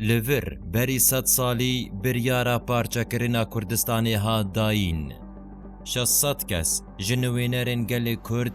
Li vir berî sed salî biryara parçekirina Kurdistanê hat dayîn. Şeş sed kes ji nuênerên gelê Kurd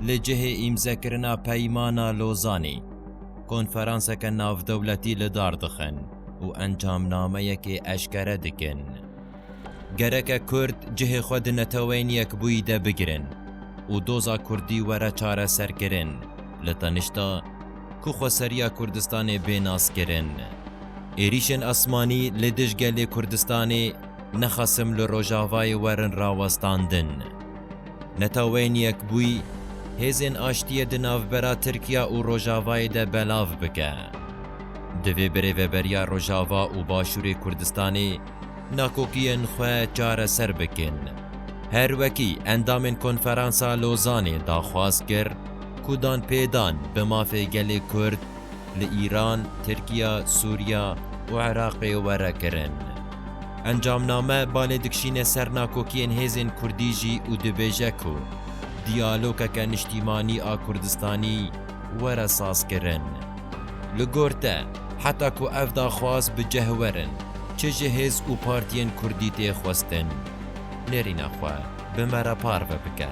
li cihê îmzekirina Peymana Lozanê konferanseke navdewletî li dar dixin û encamnameyekê eşkere dikin. Gereke Kurd cihê xwe di Neteweyên Yekbûyî de bigirin û doza Kurdî were çareserkirin li tenişta ku xweseriya Kurdistanê bê nas kirin. Êrîşên esmanî li dij gelê Kurdistanê ne xesim li Rojavayê werin rawestandin. Netaweyên Yekbûyî hêzên aştiyê di navbera Tirkiya û Rojavayê de belav bike. Divê birêveberiya Rojava û Başûrê Kurdistanê, Nakokiyên xwe çareser bikin. Her wekî endamên Konferansa Lozanê daxwaz kir ku danpêdan bi mafê gelê Kurd li Îran, Tirkiye, Sûriye û Iraqê were kirin. Encamname balê dikşîne ser nakokiyên hêzên Kurdî jî û dibêje ku diyalokeke niştîmanî a Kurdistanî were sazkirin. Li gor te, heta ku ev daxwaz bi cih werin, çi ji hêz û partiyên kurdî tê xwestin? Nêrîna xwe bi me re parve bike.